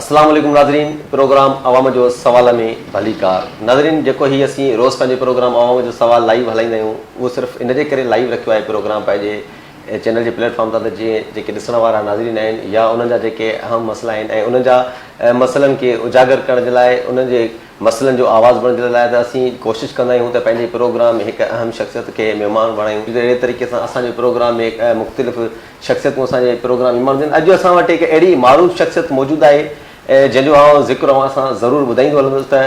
اسلام عليڪم ناظرين پروگرام عوام جو سوال ۾ ڀليڪار ناظرين جيڪو هي اسين روز پنهنجو پروگرام عوام جو سوال لائيو هلائيندا آهيون اهو صرف ان جي ڪري لائيو رکيو آهي پروگرام پنهنجي چينل جي پليٽ فارم تان ته جيئن جيڪي ڏسڻ وارا ناظرين آهن يا انهن جا جيڪي اهم مسئلا آهن ۽ انهن جا مسئلن کي اجاگر ڪرڻ جي لاء انهن جي مسئلن جو آواز بڻجڻ لاء ته اسين ڪوشش ڪندا آهيون ته پنهنجي پروگرام ۾ هڪ اهم شخصيت کي مهمان بڻايون جيڪو اهڙي طريقي سان اسان جي پروگرام ۾ هڪ مختلف شخصيتون اسان جي پروگرام مهمان بڻجن اڄ اسان وٽ هڪ اهڙي معروف شخصيت موجود آهي جنهن جو آئون ذڪر اوهان سان ضرور ٻڌائيندو هلندس ته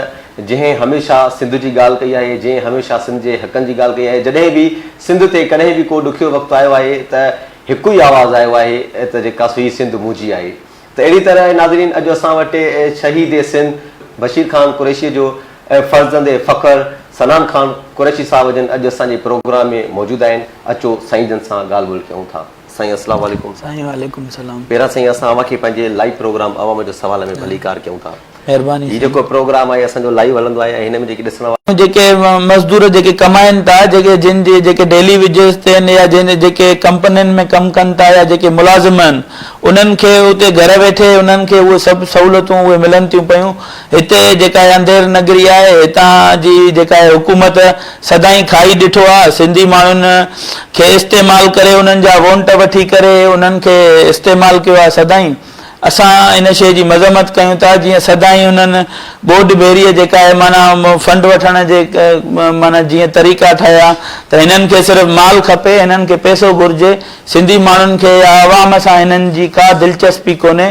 جنهن هميشه سنڌ جي ڳالهه ڪئي آهي جنهن هميشه سنڌ جي حقن جي ڳالهه ڪئي آهي جڏهن به سنڌ تي ڪڏهن به ڪو ڏکيو وقت آيو آهي ته هڪ ئي آواز آيو آهي ته جيڪا سو هي سنڌ منهنجي آهي. ته اهڙي طرح ناظرين اڄ اسان وٽ شهيد سنڌ بشير خان قريشيء جو ۽ فرزند فخر سنان خان قريشي صاحب جن اڄ اسان جي پروگرام ۾ موجود آهن اچو سائين جن سان ڳالهه ٻولهه ڪيون ٿا سائين السلام عليڪم. سائين وعليڪم السلام. پهريان سائين اسان اوهان کي پنهنجي لائيو پروگرام عوام جو سوال ۾ ڀليڪار ڪيون ٿا. مھرباني سائين. ھي جيڪو پروگرام آھي اسان جو لائيو ھلندو آھي ۽ ھن ۾ جيڪي ڏسڻ وارا. جيڪي مزدور جيڪي ڪمائين ٿا جيڪي جن جي جيڪي ڊيلي ويجز تي آھن يا جن جيڪي ڪمپنين ۾ ڪم ڪن ٿا يا جيڪي ملازم آھن انھن کي اتي گھر ويٺي انھن کي اھي سڀ سھولتون اھي ملن ٿيون پيون ھتي جيڪا اھي انڌير نگري آھي ھتان جي جيڪا اھي حڪومت سدائين کائي ڏٺو آھي سنڌي ماڻھن کي استعمال ڪري انھن جا وونٽ وٺي ڪري انھن کي استعمال ڪيو آھي سدائين اسان ان شيء جي مذمت ڪيون ٿا جيئن سدائين انهن ٻوڏ ڀيريء جيڪا اهي معنيٰ فنڊ وٺڻ جي معنيٰ جيئن طريقا ٺهيا ته هنن کي صرف مال کپي هنن کي پئسو گهرجي سنڌي ماڻهن کي يا عوام سان هنن جي ڪا دلچسپي ڪونهي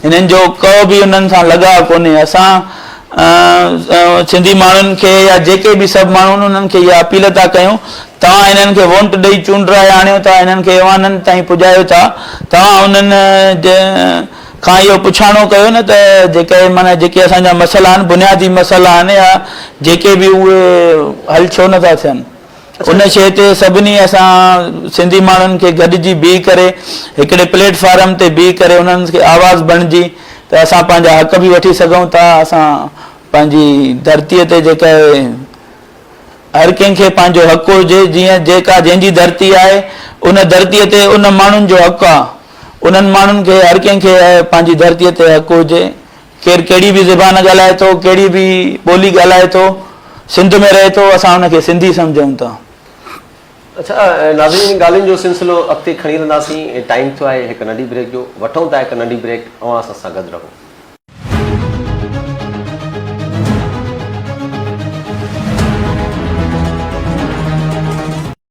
هنن جو ڪو به انهن سان لڳاء ڪونهي اسان سنڌي ماڻهن کي يا جيڪي به سڀ ماڻهو آهن انهن کي اها اپيل ٿا ڪيون توهان انهن کي وونٽ ڏئي چونڊرائي آڻيو ٿا انهن کي ايوانن تائين پڄايو ٿا توهان انهن کان اهو پڇاڻو ڪيو نه ته جيڪي معنيٰ جيڪي اسان جا مسئلا آهن بنيادي مسئلا آهن يا جيڪي به اهي حل ڇو نٿا ٿين ان شيء تي سڀني اسان سنڌي ماڻهن کي گڏجي بيهي ڪري هڪڙي پليٽ فارم تي بيهي ڪري انهن کي آواز بڻجي ته اسان پنهنجا حق به وٺي سگهون ٿا اسان پنهنجي ڌرتي تي جيڪا هر ڪنهن کي پنهنجو حق هجي جيئن جيڪا جنهن جي ڌرتي آهي ان ڌرتي تي ان ماڻهن جو حق آهي انهن ماڻهن کي هر ڪنهن کي پنهنجي ڌرتي تي حق هجي ڪير ڪهڙي به زبان ڳالهائي ٿو، ڪهڙي به ٻولي ڳالهائي ٿو، سنڌ ۾ رهي ٿو، اسان ان کي سنڌي سمجهون ٿا. اڇا ناظرين هن ڳالهين جو سلسلو اڳتي کڻي هلنداسين، ٽائيم ٿيو آهي هڪ ننڍي بريڪ جو، وٺون ٿا هڪ ننڍي بريڪ، اوهان اسان سان گڏ رهو.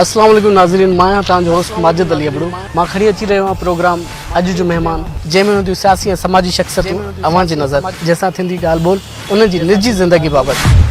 السلام عليڪم ناظرين مان آهيان توهان جو هوسٽ ماجد علي ابڙو مان کڻي اچي رهيو آهيان پروگرام اڄ جو مهمان جنهن ۾ هونديون سياسي ۽ سماجي شخصيتون اوهان جي نظر جنهن سان ٿيندي ڳالهه ٻولهه انهن جي نجي زندگي بابت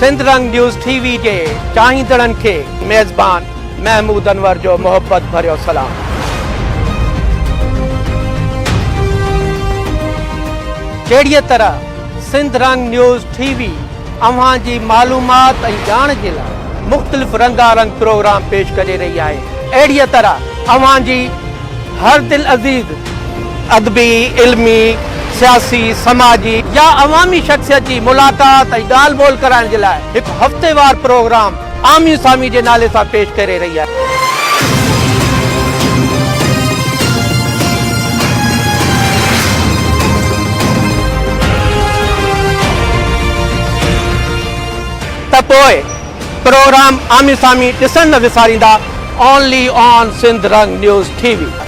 سنڌ رنگ نيوز ٽي وي جي چاهيندڙن کي ميزبان محمود انور جو محبت ڀريو سلام. جهڙيء طرح سنڌ رنگ نيوز ٽي وي اوهان جي معلومات ۽ ڄاڻ جي لاء مختلف رنگا رنگ پروگرام پيش ڪري رهي آهي اهڙي طرح اوهان جي هر دل عزيز ادبي علمي سياسي سماجي يا عوامي شخصيت جي ملاقات ۽ ڳالهه ٻولهه ڪرائڻ جي لاء هڪ هفتيوار پروگرام آمي سامي جي نالي سان پيش ڪري رهي آهي. ته پوء پروگرام آمي سامي ڏسڻ نه وساريندا only on Sindh Rang news TV وي.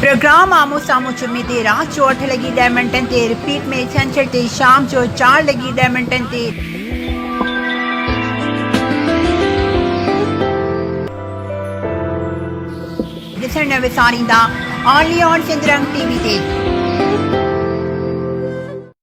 پروگرام آمهون سامهون جمعي تي رات جو اٺ لڳي ڏهه منٽن تي رپيٽ ۾ ڇنڇر تي شام جو چار لڳي ڏهه منٽن تي. ڏسڻ نه وساريندا only on Sindh Rang TV وي تي.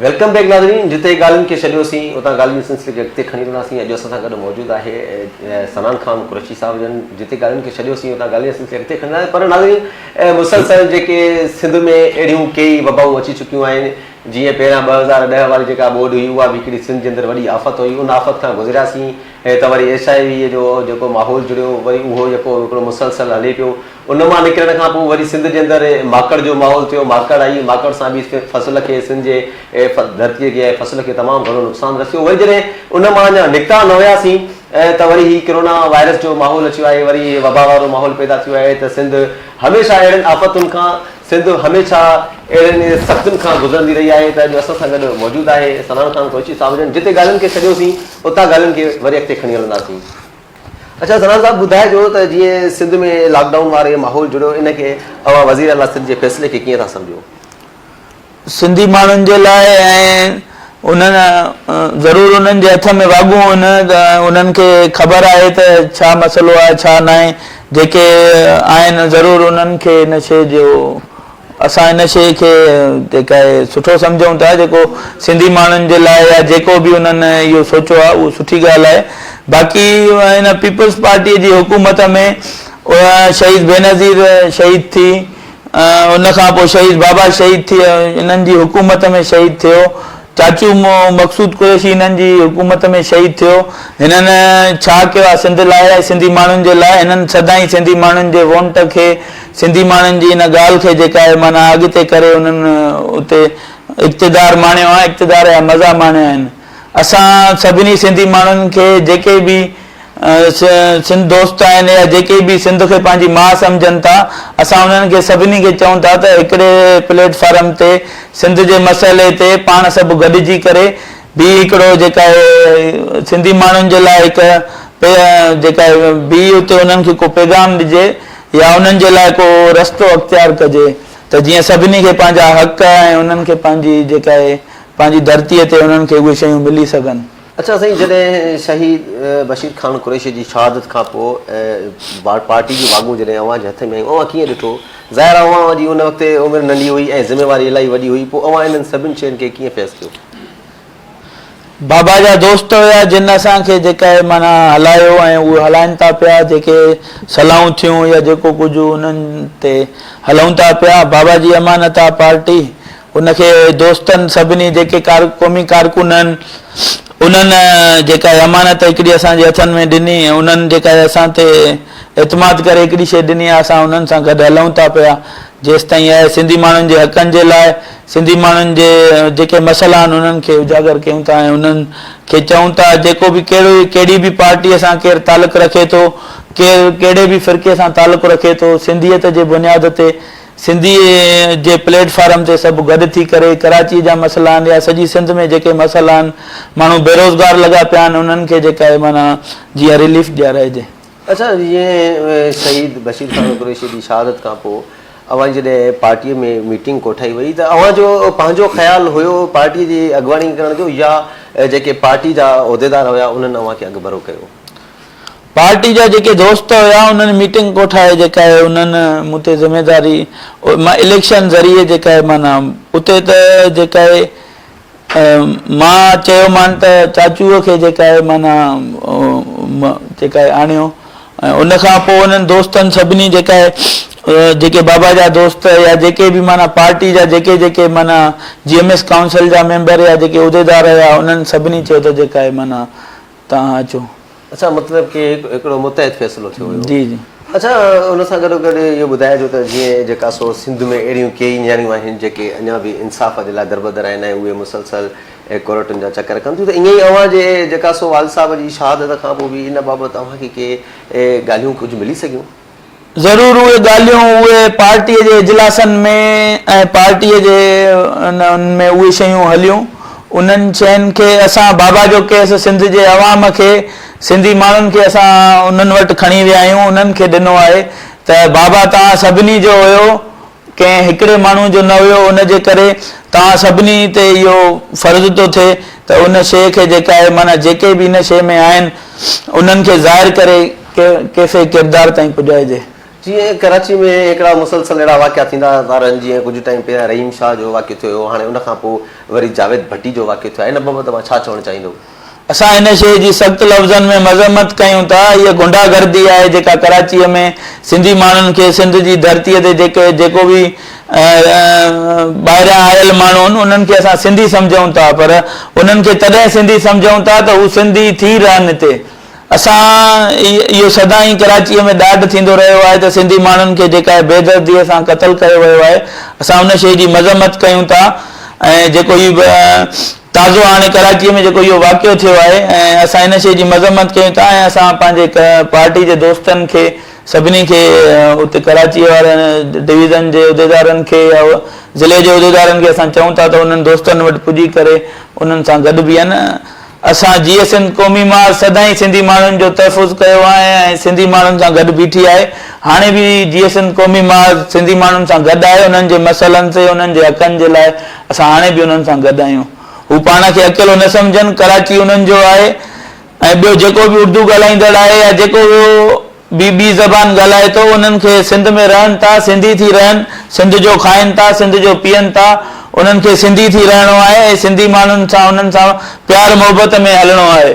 ويلڪم بيڪ ناظرين جتي ڳالهين کي ڇڏيو سين اتان ڳالهين جي سلسلي کي اڳتي کڻي هلنداسين اڄ اسان سان گڏ موجود آهي سنان خان قريشي صاحب جن جتي ڳالهين کي ڇڏيو سين اتان ڳالهين جي سلسلي اڳتي کڻي پر ناظرين مسلسل جيڪي سنڌ ۾ اهڙيون ڪيئي وبائون اچي چڪيون آهن جيئن پهريان ٻه هزار ڏهه واري جيڪا ٻوڏ هئي اها به هڪڙي سنڌ جي اندر وڏي آفت هئي، ان آفت کان گذرياسين ته وري ايس آء ويء جو جيڪو ماحول جڙيو وري اهو يڪو هڪڙو مسلسل هلي پيو، ان مان نڪرڻ کان پوء وري سنڌ جي اندر ماڪڙ جو ماحول ٿيو، ماڪڙ آئي، ماڪڙ سان به فصل کي سنڌ جي ڌرتيء کي ۽ فصل کي تمام گهڻو نقصان رسيو، وري جڏهن ان مان اڃا نڪتا نه هياسين ايئن ته وري هي ڪرونا وائرس جو ماحول اچيو آهي وري هي وبا وارو ماحول پيدا ٿيو آهي ته سنڌ هميشه اهڙين آفتن کان سنڌ هميشه اهڙين سختين کان گذرندي رهي آهي ته اڄ اسان سان گڏ موجود آهي سنان خان ڪوچي صاحب جن جتي ڳالهين کي ڇڏيو سين اتان ڳالهين کي وري اڳتي کڻي هلنداسين. اڇا سنان صاحب ٻڌائجو ته جيئن سنڌ ۾ لاڪ ڊائون واري ماحول جڙيو ان کي اوهان وزيراعليٰ سنڌ جي فيصلي کي ڪيئن ٿا سمجهو؟ سنڌي ماڻهن جي لاء ۽ انهن ضرور انهن جي هٿ ۾ واڳون هن ته انهن کي خبر آهي ته ڇا مسئلو آهي ڇا ناهي جيڪي آهن ضرور انهن کي ان شيء جو اسان ان شيء کي جيڪا آهي سٺو سمجهون ٿا جيڪو سنڌي ماڻهن جي لاء يا جيڪو به انهن اهو سوچيو آهي اهو سٺي ڳالهه آهي باقي ان پيپلز پارٽي جي حڪومت ۾ شهيد بينظير شهيد ٿي ان کان پوء شهيد بابا شهيد ٿئي انهن جي حڪومت ۾ شهيد ٿيو، چاچو مقصود قريشي انهن جي حڪومت ۾ شهيد ٿيو، هنن ڇا ڪيو آهي سنڌ لاء ۽ سنڌي ماڻهن جي لاء، هنن سدائين سنڌي ماڻهن جي وونٽ کي سنڌي ماڻهن جي ان ڳالهه کي جيڪا هي معنيٰ اڳتي ڪري انهن اتي اقتدار ماڻيو آهي، اقتدار جا مزا ماڻيا آهن. اسان سڀني سنڌي ماڻهن کي جيڪي به سنڌ دوست آهن يا جيڪي به سنڌ کي پنهنجي ماء سمجهن ٿا اسان انهن کي سڀني کي چئون ٿا ته هڪڙي پليٽ فارم تي سنڌ جي مسئلي تي پاڻ سڀ گڏجي ڪري به هڪڙو جيڪا آهي سنڌي ماڻهن جي لاء هڪ جيڪا آهي به اتي انهن کي ڪو پيغام ڏجي يا انهن جي لاء ڪو رستو اختيار ڪجي ته جيئن سڀني کي پنهنجا حق ۽ انهن کي پنهنجي جيڪا آهي پنهنجي ڌرتيء تي انهن کي اهي شيون ملي سگهن. اڇا سائين جڏهن شهيد بشير خان قريشي جي شهادت کان پوء پارٽي جون واڳون جڏهن اوهان جي هٿ ۾ آيون اوهان ڪيئن ڏٺو ظاهر آهي اوهان جي ان وقت عمر ننڍي هئي ۽ ذميواري الاهي وڏي هئي پوء اوهان انهن سڀني شين کي ڪيئن فيس ڪيو. بابا جا دوست هيا جن اسان کي جيڪا هي معنيٰ هلايو ۽ اهو هلائن ٿا پيا جيڪي صلاحون ٿيون يا جيڪو ڪجهه انهن تي هلون ٿا پيا بابا جي امانت آهي پارٽي ان کي دوستن سڀني جيڪي قومي ڪارڪن آهن انهن جيڪا هي امانت هڪڙي اسان جي هٿن ۾ ڏني ۽ انهن جيڪا هي اسان تي اعتماد ڪري هڪڙي شيء ڏني آهي اسان انهن سان گڏ هلون ٿا پيا جيستائين اهي سنڌي ماڻهن جي حقن جي لاء سنڌي ماڻهن جي جيڪي مسئلا آهن انهن کي اجاگر ڪيون ٿا ۽ انهن کي چئون ٿا جيڪو به ڪهڙو ڪهڙي به پارٽي سان ڪير تعلق رکي ٿو ڪير ڪهڙي به فرقي سان تعلق رکي ٿو سنڌيت جي بنياد تي سنڌيء جي پليٽ فارم تي سڀ گڏ ٿي ڪري ڪراچيء جا مسئلا آهن يا سڄي سنڌ ۾ جيڪي مسئلا آهن، ماڻهو بيروزگار لڳا پيا آهن، انهن کي جيڪا اهي معنيٰ جيئن ريليف ڏيارائجي. اچا جيئن شهيد بشير خان قريشيء جي شهادت کان پوء اوهان جي جڏهن پارٽيء ۾ ميٽنگ ڪوٺائي وئي ته اوهان جو پنهنجو خيال هيو پارٽيء جي اڳواڻي ڪرڻ جو يا جيڪي پارٽي جا عهديدار هيا انهن اوهان کي اڳڀرو ڪيو؟ پارٽي جا جيڪي دوست هيا انهن ميٽنگ ڪوٺائي جيڪا هي انهن مون تي ذميداري مان اليڪشن ذريعي جيڪا هي معنيٰ اتي ته جيڪا هي مان چيو مان ته چاچوء کي جيڪا هي معنيٰ جيڪا هي آڻيو ۽ ان کان پوء انهن دوستن سڀني جيڪا هي جيڪي بابا جا دوست يا جيڪي به معنيٰ پارٽي جا جيڪي جيڪي معنيٰ جي ايم ايس ڪائونسل جا ميمبر يا جيڪي عهديدار هيا انهن سڀني چيو ته جيڪا هي معنيٰ توهان اچو. اڇا مطلب ڪي هڪڙو متحد فيصلو ٿيو هيو. جي جي. اڇا ان سان گڏو گڏ اهو ٻڌائجو ته جيئن جيڪا سو سنڌ ۾ اهڙيون ڪيئي نياڻيون آهن جيڪي اڃا به انصاف جي لاء دربدر آهن ۽ اهي مسلسل ڪورٽن جا چڪر ڪن ٿيون ته ائين ئي اوهان جي جيڪا سو والد صاحب جي شهادت کان پوء به ان بابت اوهان کي ڪي ڳالهيون ڪجهه ملي سگهيون. ضرور اهي ڳالهيون اهي پارٽيء جي اجلاسن ۾ ۽ پارٽيء جي ان ۾ اهي شيون هليون، انهن شين کي اسان بابا جو ڪيس سنڌ جي عوام کي سنڌي ماڻهن کي اسان انهن وٽ کڻي ويا آهيون انهن کي ڏنو آهي ته بابا توهان سڀني جو هيو، ڪنهن هڪڙي ماڻهو جو نه هيو ان جي ڪري توهان سڀني تي اهو فرض ٿو ٿئي ته ان شيء کي جيڪا اهي معنيٰ جيڪي به ان شيء ۾ آهن انهن کي ظاهر ڪري ڪيفي ڪردار تائين پڄائجي. جيئن ڪراچي ۾ هڪڙا مسلسل اهڙا واقعا ٿيندا رهندا آهن جيئن ڪجهه ٽائيم پهريان رحيم شاهه جو واقعو ٿيو هيو هاڻي ان کان پوء وري جاويد ڀٽي جو واقعو ٿيو آهي ان بابت اوهان ڇا چوڻ چاهيندو. اسان ان شيء جي سخت لفظن ۾ مذمت ڪيون ٿا، هيء غنڊا گردي آهي جيڪا ڪراچيء ۾ سنڌي ماڻهن کي سنڌ جي ڌرتيء تي جيڪي جيڪو به ٻاهريان آيل ماڻهو آهن انهن کي اسان سنڌي سمجهون ٿا پر انهن کي تڏهن سنڌي سمجهون ٿا ته هو سنڌي ٿي رهن هتي اسان اهو سدائين ڪراچيء ۾ ڏاڍ ٿيندو رهيو آهي ته سنڌي ماڻهن کي جيڪا هي بي درديء سان قتل ڪيو ويو آهي اسان ان شيء جي مذمت ڪيون ٿا ۽ جيڪو هي تازو هاڻي ڪراچيء ۾ جيڪو اهو واقعو ٿيو آهي ۽ اسان ان شيء جي مذمت ڪيون ٿا ۽ اسان پنهنجي پارٽي جي دوستن کي سڀني کي اتي ڪراچيء وارن ڊويزن جي عهديدارن کي يا ضلعي جي عهديدارن کي اسان چئون ٿا ته انهن دوستن وٽ پڄي ڪري انهن سان گڏ بيهن. اسان جيئي سنڌ قومي ماء سدائين سنڌي ماڻهن جو تحفظ ڪيو آهي ۽ سنڌي ماڻهن سان گڏ بيٺي آهي هاڻي به جيئي سنڌ قومي ماء سنڌي ماڻهن سان گڏ آهي انهن جي مسئلن تي انهن جي حقن جي لاء اسان هاڻي به انهن سان گڏ آهيون. هو پاڻ کي اڪيلو نه سمجهن، ڪراچي انهن جو آهي ۽ ٻيو جيڪو به اردو ڳالهائيندڙ آهي يا جيڪو به ٻي زبان ڳالهائي ٿو، انهن کي سنڌ ۾ رهن ٿا، سنڌي ٿي رهن، سنڌ جو کائن ٿا، سنڌ جو پيئن ٿا، انهن کي سنڌي ٿي رهڻو آهي ۽ سنڌي ماڻهن سان انهن سان پيار محبت ۾ هلڻو آهي.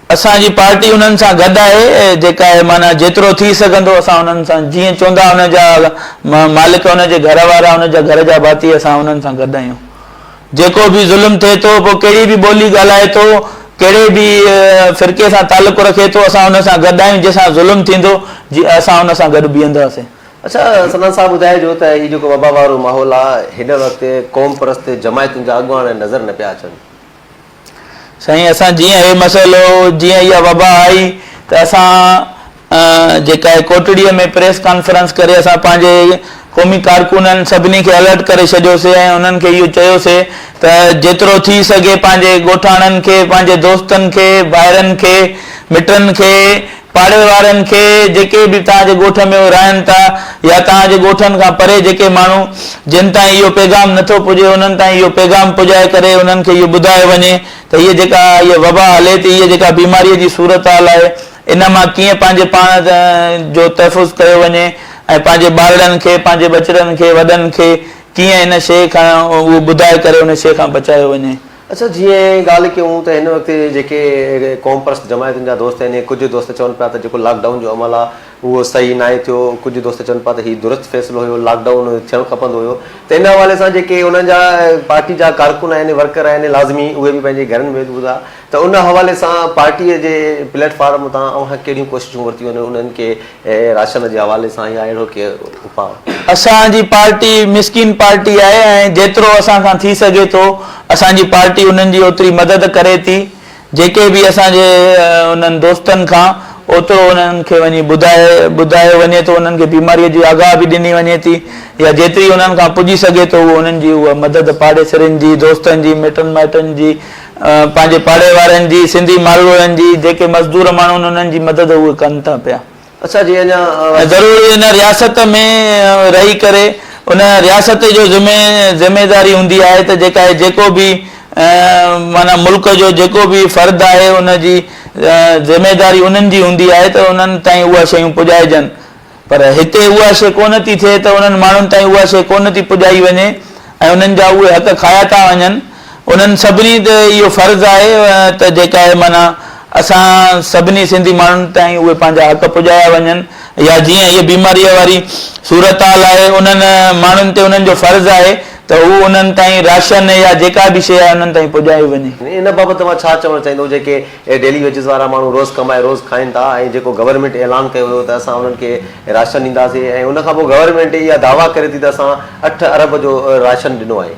اسان جي پارٽي انهن سان گڏ آهي جيڪا اهي معنيٰ جيترو ٿي سگهندو اسان انهن سان جيئن چوندا ان جا مالڪ ان جي گهر وارا ان جا گهر جا ڀاتي اسان انهن سان گڏ آهيون جيڪو به ظلم ٿئي ٿو پوء ڪهڙي به ٻولي ڳالهائي ٿو ڪهڙي به فرقي سان تعلق رکي ٿو اسان ان سان گڏ آهيون جنهن سان ظلم ٿيندو جي اسان ان سان گڏ بيهنداسين. اچا سدان صاحب ٻڌائجو ته هي جيڪو وبا وارو ماحول آهي هن وقت قوم پرست جماعتن جا اڳواڻ نظر نه پيا اچن. سائين اسان جيئن هي مسئلو جيئن اها وبا آئي ته اسان جيڪا هي ڪوٽڙي ۾ پريس ڪانفرنس ڪري اسان پنهنجي قومي ڪارڪنن سڀني کي الرٽ ڪري ڇڏيوسي ۽ انهن کي اهو چيوسي ته جيترو ٿي سگهي پنهنجي ڳوٺاڻن کي پنهنجي دوستن کي ڀائرن کي مٽن کي پاڙي وارن کي جيڪي به توهان جي ڳوٺ ۾ اهي رهن ٿا يا توهان جي ڳوٺن کان پري جيڪي ماڻهو جن تائين اهو پيغام نٿو پڄي انهن تائين اهو پيغام پڄائي ڪري انهن کي اهو ٻڌايو وڃي ته هيء جيڪا هيء وبا هلي ٿي هيء جيڪا بيماريء جي صورتحال آهي ان مان ڪيئن پنهنجي پاڻ جو تحفظ ڪيو وڃي ۽ پنهنجي ٻارڙن کي پنهنجي ٻچڙن کي وڏن کي ڪيئن ان شيء کان اهو ٻڌائي ڪري ان شيء کان بچايو وڃي. اچا جيئن ڳالهه ڪيون ته هن وقت جيڪي قومپرست جماعتن جا دوست آهن ۽ ڪجهه دوست چون پيا ته جيڪو لاڪ ڊائون جو عمل آهي اهو صحيح ناهي ٿيو ڪجهه دوست چون پيا ته هي درست فيصلو هيو لاڪ ڊائون ٿيڻ کپندو هيو ته ان حوالي سان جيڪي انهن جا پارٽي جا ڪارڪن آهن ورڪر آهن لازمي اهي به پنهنجي گهرن ۾ هوندا ته ان حوالي سان پارٽي جي پليٽ فارم تان اوهان ڪهڙيون ڪوششون ورتيون آهن انهن کي اي راشن جي حوالي سان يا اهڙو ڪي اپاء. اسان جي پارٽي مسڪين پارٽي آهي ۽ جيترو اسان کان ٿي سگهي ٿو اسان جي پارٽي انهن جي اوتري مدد ڪري ٿي جيڪي به اسان جي انهن دوستن کان اوترو انهن کي وڃي ٻڌايو وڃي ٿو انهن کي بيماري جي آگاهه به ڏني وڃي ٿي يا جيتري انهن کان پڄي سگهي ٿو انهن جي اها مدد پاڙيسرين جي دوستن جي مٽن مائٽن جي پنهنجي پاڙي وارن جي، سنڌي مالوئن جي، جيڪي مزدور ماڻهو آهن انهن جي مدد اهي ڪن ٿا پيا. اسان جي اڃا. ضرور ان رياست ۾ رهي ڪري ان رياست جو ذمي ذميداري هوندي آهي ته جيڪا هي جيڪو به معنيٰ ملڪ جو جيڪو به فرد آهي ان جي ذميداري انهن جي هوندي آهي ته انهن تائين اها شيون پڄائجن. پر هتي اها شيء ڪونه ٿي ٿئي ته انهن ماڻهن تائين اها شيء ڪونه ٿي پڄائي وڃي ۽ انهن جا اهي حق کايا ٿا وڃن. انهن سڀني تي اهو فرض آهي ته جيڪا اهي معنيٰ اسان سڀني سنڌي ماڻهن تائين اهي پنهنجا حق پڄايا وڃن يا جيئن هيء بيماريء واري صورتحال آهي انهن ماڻهن تي انهن جو فرض آهي ته هو انهن تائين راشن يا جيڪا به شيء آهي انهن تائين پڄايو وڃي. ان بابت توهان ڇا چوڻ چاهيندؤ جيڪي اهي ڊيلي ويجز وارا ماڻهو روز ڪمائي روز کائين ٿا ۽ جيڪو گورنمينٽ اعلان ڪيو هيو ته اسان انهن کي راشن ڏينداسين ۽ ان کانپوء گورنمينٽ اها دعويٰ ڪري ٿي ته اسان اٺ ارب جو راشن ڏنو آهي.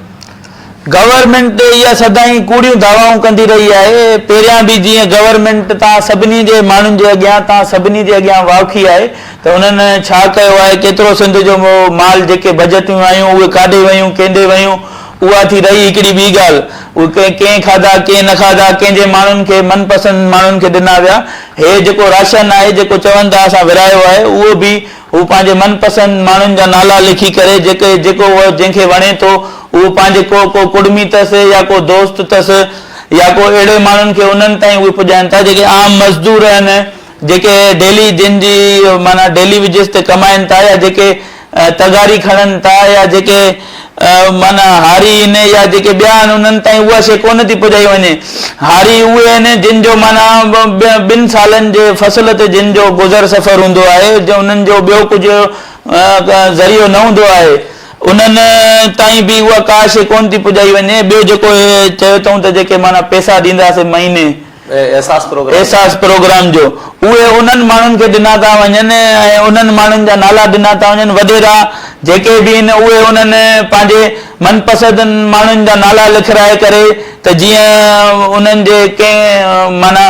گورنمينٽ اها سدائين ڪوڙيون دعوائون ڪندي رهي آهي، پهريان به جيئن گورنمينٽ تان سڀني جي ماڻهن جي اڳيان تان سڀني جي اڳيان واکي آهي ته انهن ڇا ڪيو آهي، ڪيترو سنڌ جو مال جيڪي بجٽيون آيون اهي ڪاڏي ويون، ڪينڏي ويون، اها ٿي رهي هڪڙي ٻي ڳالهه، اهي ڪنهن ڪنهن کاڌا، ڪنهن نه کاڌا، ڪنهن جي ماڻهن کي، من پسند ماڻهن کي ڏنا ويا. هي جيڪو راشن آهي، جيڪو چون ٿا اسان ورهايو آهي، اهو به هو پنهنجي من پسند ماڻهن جا نالا لکي ڪري، جيڪي جيڪو هو جنهن کي وڻي ٿو، اهو پنهنجي ڪو ڪو ڪڙمي اٿس يا ڪو دوست اٿس يا ڪو اهڙي ماڻهن کي انهن تائين اهي پڄائين ٿا، جيڪي عام مزدور آهن. جيڪي ڊيلي جن جي معنيٰ ڊيلي ويجز تي ڪمائين ٿا يا جيڪي تغاري کڻن ٿا يا جيڪي معنيٰ هاري آهن يا جيڪي ٻيا آهن انهن تائين اها شيء ڪونه ٿي پڄائي وڃي. هاري اهي آهن جن جو معنيٰ ٻن سالن جي فصل تي جن جو گذر سفر هوندو آهي جو انهن جو ٻيو ڪجهه ذريعو نه هوندو آهي انهن تائين به اها ڪا شيء ڪونه ٿي پڄائي وڃي. ٻيو جيڪو چيو اٿئون ته جيڪي معنيٰ پئسا ڏينداسين مهيني احساس پروگرام. احساس پروگرام جو اهي انهن ماڻهن کي ڏنا ٿا وڃن ۽ انهن ماڻهن جا نالا ڏنا ٿا وڃن وڏيرا جيڪي به آهن اهي انهن پنهنجي من پسند ماڻهن جا نالا لکرائي ڪري ته جيئن انهن جي ڪنهن معنيٰ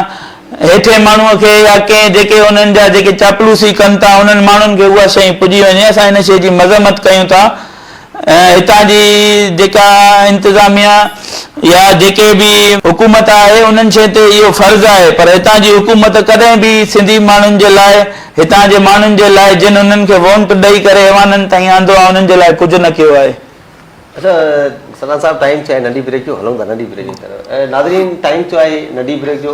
هيٺين ماڻهو کي يا ڪنهن جيڪي انهن جا جيڪي چاپلوسي ڪن ٿا انهن ماڻهن کي اها شيء پڄي وڃي اسان ان شيء جي مذمت ڪيون ٿا ۽ هتان جي جيڪا انتظاميا يا جيڪي به حڪومت آهي انهن شين تي اهو فرض آهي پر هتان جي حڪومت ڪڏهن به سنڌي ماڻهن جي لاء هتان جي ماڻهن جي لاء جن انهن کي وونٽ ڏئي ڪري ايوانن تائين آندو آهي انهن جي لاء ڪجهه نه ڪيو آهي. اچا سلان صاحب ٽائيم ٿيو آهي ننڍي بريڪ جو هلون ٿا ننڍي بريڪ جي طرف ناظرين ٽائيم ٿيو آهي ننڍي بريڪ جو.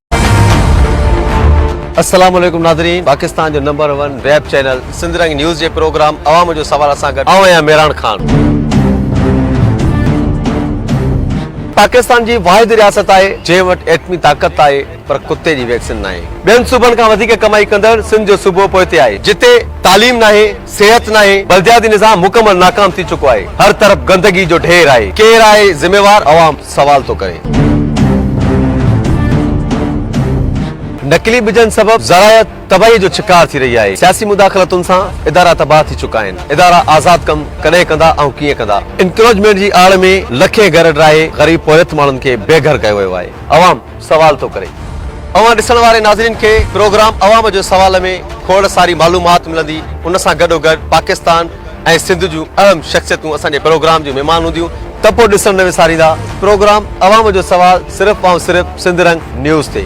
السلام عليڪم ناظرين پاڪستان جو number one web channel Sindh Rang news جي پروگرام عوام جو سوال سان گڏ آئون آهيان ميران خان پاڪستان جي واحد رياست آهي جنهن وٽ ايٽمي طاقت آهي پر ڪتي جي ويڪسين ناهي ٻين صوبن کان وڌيڪ ڪمائي ڪندڙ سنڌ جو صوبو پوئتي آهي جتي تعليم ناهي صحت ناهي بلدياتي نظام مڪمل ناڪام ٿي چڪو آهي هر طرف گندگي جو ڍير آهي ڪير آهي ذميوار عوام سوال ٿو ڪري. نقلي ٻجن سبب زراعي تباهي جو شڪار ٿي رهي آهي، سياسي مداخلتن سان ادارا تباهه ٿي چڪا آهن، ادارا آزاد ڪم ڪڏهن ڪندا ۽ ڪيئن ڪندا، انڪروچمينٽ جي آڙ ۾ لکين گهر ڊاهي غريب پورهيت ماڻهن کي بي گهر ڪيو ويو آهي، عوام. سوال ٿو ڪري اوهان ڏسڻ واري ناظرين کي پروگرام عوام جو سوال ۾ کوڙ ساري معلومات ملندي ان سان گڏو گڏ پاڪستان ۽ سنڌ جون اهم شخصيتون اسان جي پروگرام جون مهمان هونديون ته پو ڏسڻ نه وساريندا پروگرام عوام جو سوال صرف ۽ صرف سنڌ رنگ نيوز تي.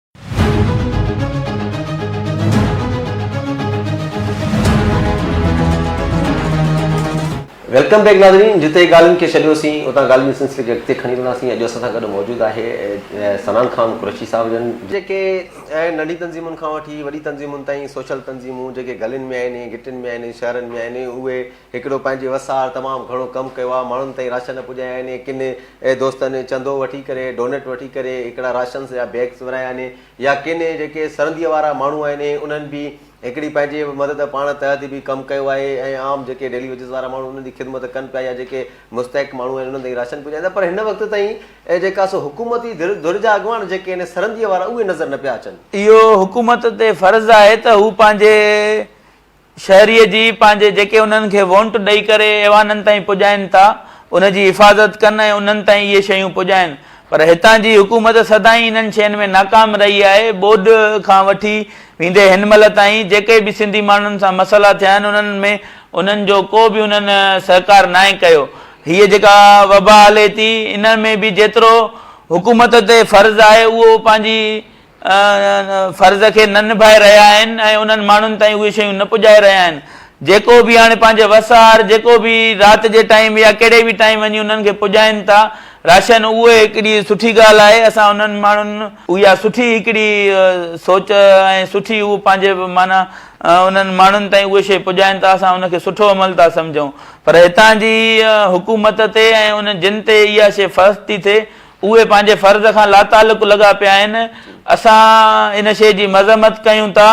ويلڪم بيڪ ناظرين جتي ڳالهين کي ڇڏيوسين اتان ڳالهين جو سلسلي کي اڳتي کڻي وينداسين اڄ اسان سان گڏ موجود آهي سنان خان قريشي صاحب جن جيڪي ننڍي تنظيمن کان وٺي وڏي تنظيمن تائين سوشل تنظيمون جيڪي گلين ۾ آهن گٽن ۾ آهن شهرن ۾ آهن اهي هڪڙو پنهنجي وسار تمام گهڻو ڪم ڪيو آ ماڻهن تائين راشن پڄايا آهن ۽ ڪن دوستن چندو وٺي ڪري ڊونيٽ وٺي ڪري هڪڙا راشنس جا بيگس ورهايا آهن يا ڪن جيڪي سرنديء وارا ماڻهو آهن انهن به هڪڙي پنهنجي مدد پاڻ تحت به ڪم ڪيو آهي ۽ عام جيڪي ڊيلي ويجز وارا ماڻهو انهن جي خدمت ڪن پيا يا جيڪي مستحق ماڻهو آهن انهن تائين راشن پڄائين ٿا پر هن وقت تائين جيڪا سو حڪومتي ڌر جا اڳواڻ جيڪي آهن سرنديء وارا اهي نظر نه پيا اچن. اهو حڪومت تي فرض آهي ته هو پنهنجي شهريء جي پنهنجي جيڪي انهن کي وونٽ ڏئي ڪري ايوانن تائين پڄائين ٿا ان جي حفاظت ڪن ۽ انهن تائين اهي شيون پڄائين پر هتان جي حڪومت سدائين انهن شين ۾ ناڪام رهي آهي ٻوڏ کان وٺي ويندي هن مهل تائين جيڪي به سنڌي ماڻهن سان مسئلا ٿيا آهن انهن ۾ انهن جو ڪو به انهن سهڪار ناهي ڪيو هيء جيڪا وبا هلي ٿي ان ۾ به جيترو حڪومت تي فرض آهي اهو پنهنجي فرض کي نه نڀائي رهيا آهن ۽ انهن ماڻهن تائين اهي شيون نه پڄائي رهيا آهن جيڪو به هاڻي پنهنجي وس آهر جيڪو به رات جي ٽائيم يا ڪهڙي به ٽائيم وڃي انهن کي پڄائين ٿا راشن اهو هڪڙي سٺي ڳالهه آهي اسان انهن ماڻهن اها سٺي هڪڙي سوچ ۽ سٺي اهو پنهنجي معنيٰ انهن ماڻهن تائين اهي شيء پڄائين ٿا اسان ان کي سٺو عمل ٿا سمجهون پر هتان جي حڪومت تي ۽ ان جن تي اها شيء فرض ٿي ٿئي اهي پنهنجي فرض کان لاتعلق لڳا پيا آهن، اسان ان شيء جي مذمت ڪيون ٿا،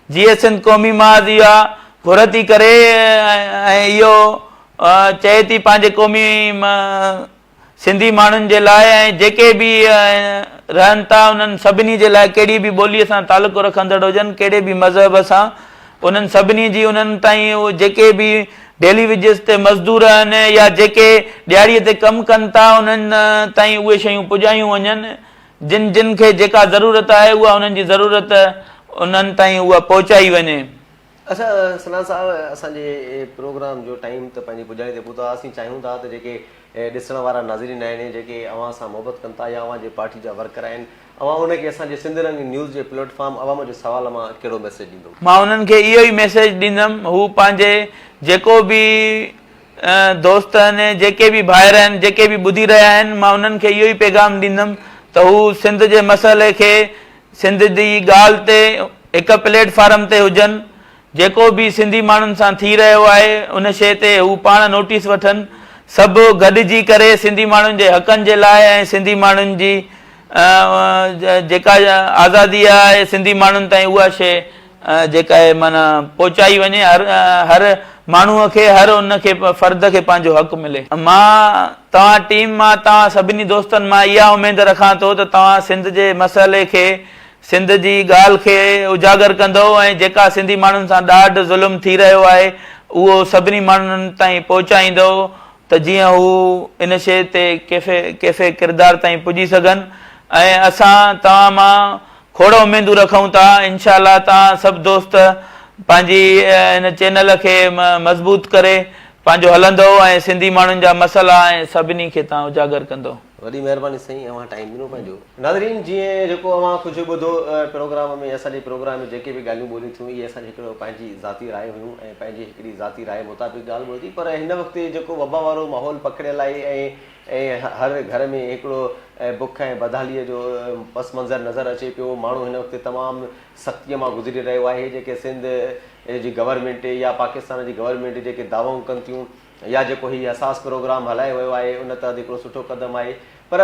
جيئي سنڌ قومي محاذ اها گهر ٿي ڪري ۽ اهو چئي ٿي پنهنجي قومي سنڌي ماڻهن جي لاء ۽ جيڪي به رهن ٿا انهن سڀني جي لاء ڪهڙي به ٻوليء سان تعلق رکندڙ هجن، ڪهڙي به مذهب سان، انهن سڀني جي انهن تائين اهي جيڪي به ڊيلي ويجز تي مزدور آهن يا جيڪي ڏهاڙي تي ڪم ڪن ٿا انهن تائين اهي شيون پڄايون وڃن جن جن کي جيڪا ضرورت آهي اها انهن جي ضرورت انهن تائين اها پهچائي وڃي. اچا سنان صاحب اسان جي پروگرام جو ٽائيم ته پنهنجي پڄاڻي تي پهتو آهي اسين چاهيون ٿا ته جيڪي ڏسڻ وارا ناظرين آهن جيڪي اوهان سان محبت ڪن ٿا يا اوهان جي پارٽي جا ورڪر آهن اوهان هن کي اسان جي سنڌ رنگ نيوز جي پليٽ فارم عوام جو سوال مان ڪهڙو ميسيج ڏيندو؟ مان انهن کي اهو ئي ميسيج ڏيندم هو پنهنجي جيڪو به دوست آهن ۽ جيڪي به ڀائر آهن جيڪي به ٻڌي رهيا آهن مان انهن کي اهو ئي پيغام ڏيندم ته هو سنڌ جي مسئلي کي سنڌ جي ڳالهه تي هڪ پليٽ فارم تي هجن جيڪو به سنڌي ماڻهن سان ٿي رهيو آهي ان شيء تي هو پاڻ نوٽيس وٺن سڀ گڏجي ڪري سنڌي ماڻهن جي حقن جي لاء ۽ سنڌي ماڻهن جي جيڪا آزادي آهي سنڌي ماڻهن تائين اها شيء جيڪا آهي معنيٰ پهچائي وڃي هر هر ماڻهو کي هر ان کي فرد کي پنهنجو حق ملي. مان توهان ٽيم مان توهان سڀني دوستن مان اها اميد رکان ٿو ته توهان سنڌ جي مسئلي کي سنڌ جي ڳالهه کي اجاگر ڪندو ۽ جيڪا سنڌي ماڻهن سان ڏاڍ ظلم ٿي رهيو آهي اهو سڀني ماڻهن تائين پهچائيندو ته جيئن هو ان شيء تي ڪيفي ڪيفي ڪردار تائين پڄي سگهن ۽ اسان توهان مان کوڙ اميدون رکون ٿا انشاء الله توهان سڀ دوست پنهنجي ان چينل کي مضبوط ڪري پنهنجو هلندو ۽ سنڌي ماڻهن جا مسئلا ۽ سڀني کي توهان اجاگر ڪندو. وڏي مهرباني سائين اوهان ٽائيم ڏنو پنهنجو. ناظرين جيئن جيڪو اوهان ڪجهه ٻڌو پروگرام ۾ اسان جي پروگرام ۾ جيڪي به ڳالهيون ٻوليون ٿيون اهي اسان جي هڪڙو پنهنجي ذاتي راء هيون ۽ پنهنجي هڪڙي ذاتي راء مطابق ڳالهه ٻولتي پر هن وقت جيڪو وبا وارو ماحول پکڙيل آهي ۽ هر گهر ۾ هڪڙو بک ۽ بدحالي جو پس منظر نظر اچي پيو ماڻهو هن وقت تمام سختي مان گذري رهيو آهي جيڪي سنڌ جي گورنمينٽ يا پاڪستان جي گورنمينٽ جيڪي دعوائون ڪن ٿيون يا جيڪو هي حساس پروگرام هلايو ويو آهي ان تحت هڪڙو سٺو قدم آهي پر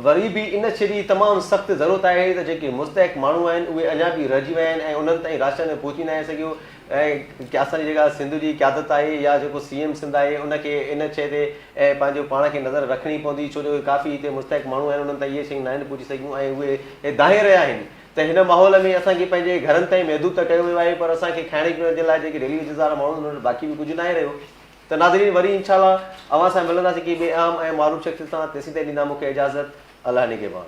وري به ان شي جي تمام سخت ضرورت آهي ته جيڪي مستحق ماڻهو آهن اهي اڃا به رهجي ويا آهن ۽ انهن تائين راشن پهچي ناهي سگهيو ۽ اسان جي جيڪا سنڌ جي قيادت آهي يا جيڪو سي ايم سنڌ آهي ان کي ان شي تي پنهنجو پاڻ کي نظر رکڻي پوندي ڇو جو ڪافي هتي مستحق ماڻهو آهن انهن تائين اهي شيون ناهن پهچي سگهيون ۽ اهي دانهي رهيا آهن ته هن ماحول ۾ اسان کي پنهنجي گهرن تائين محدود ته ڪيو ويو آهي پر اسان کي کائڻ پيئڻ جي لاء جيڪي ڊيلي ويجز وارا ماڻهو آهن انهن وٽ باقي به ڪجهه ناهي رهيو ته ناظرين وري انشاء الله اوهان سان ملنداسين ڪنهن ٻئي اهم ۽ معروف شخصيت سان تيسين تائين ڏيندا مون کي اجازت الله نگهبان.